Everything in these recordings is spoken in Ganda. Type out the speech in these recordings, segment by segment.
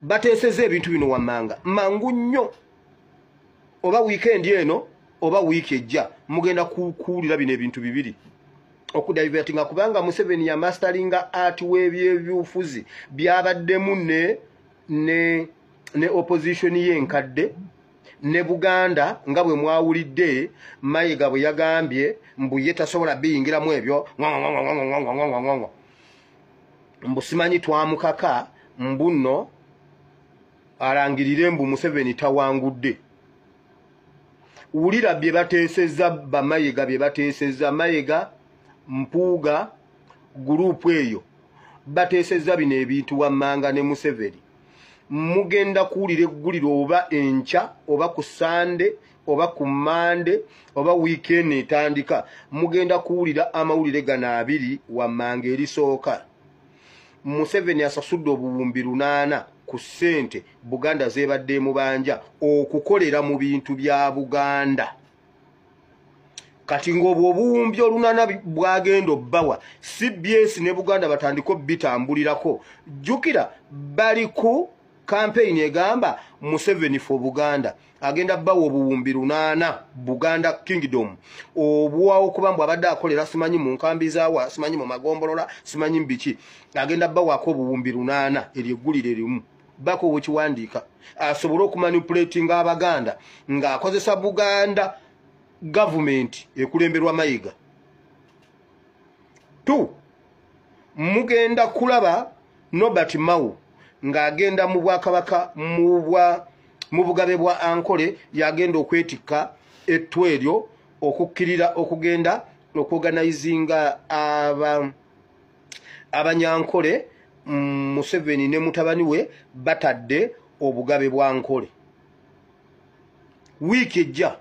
bateeseza ebintu bino wammanga mangu nnyo oba wiikendi eno oba wiiki ejja mugenda kuwulira bino ebintu bibiri okudivertinga kubanga museveni yamastalinga art webyebyufuzi byabaddemu ne ne ne opposition ye enkadde ne buganda nga bwe mwawulidde mayega bwe yagambye mbu ye tasobola biyingiramu ebyo mbu simanyi twamukaka mbu nno alangirire mbu museveni tawangudde wulira bye bateeseza bamayega bye bateeseza mayega mpuuga guruupu eyo bateeseza bino ebintu wammanga ne museveni mugenda kuwulira egguliro oba enkya oba ku sande oba ku mande oba wiikendi etandika mugenda kuwulira amawulire gano abiri wammanga erisooka museveni asasudde obuwumbi lunaana ku ssente buganda zebadde emubanja okukolera mu bintu bya buganda kati ng'obwo obuwumbi olunaana bwagenda obbawa cbs ne buganda batandika obitambulirako jjukira bali ku kampeyini egamba museveni fo buganda agenda bawa obuwumbi lunaana buganda kingdom obwawo kuba mbu abadde akolera simanyi mu nkambi zawa simanyi mu magombolola simanyi mbiki agenda bawako obuwumbi lunaana eryo eggulire erimu bako wekiwandiika asobole okumanipulatinga abaganda ng'akozesa buganda gavumenti ekulemberwa mayiga t mugenda kulaba Nobert Mao ng'agenda mu bwakabaka mu bugabe bwa Ankole y'agenda okwetikka ettu eryo okukkirira okugenda okuoganayizinga abanyankole mm, Museveni ne mutabani we batadde obugabe bwa Nkole wiiki ejja.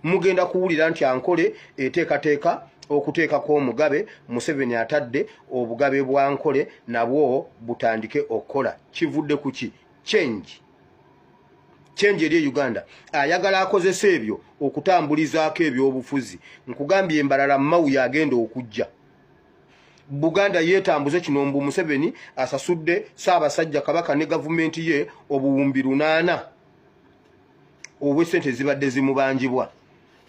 mugenda kuwulira nti ankole eteekateeka okuteekako omugabe museveni atadde obugabe bwa nkole nabwo butandike okukola kivudde ku ki change change eri e uganda ayagala akozesa ebyo okutambulizaako ebyobufuzi nkugambye embalala mawu yagenda okujja buganda yeetambuze kino mbu museveni asasudde saabasajja kabaka ne gavumenti ye obuwumbi lunaana obw'essente ezibadde zimubanjibwa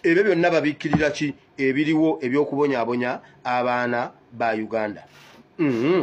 ebyo byonna babikkirira ki ebiriwo eby'okubonyabonya abaana ba uganda mm -hmm.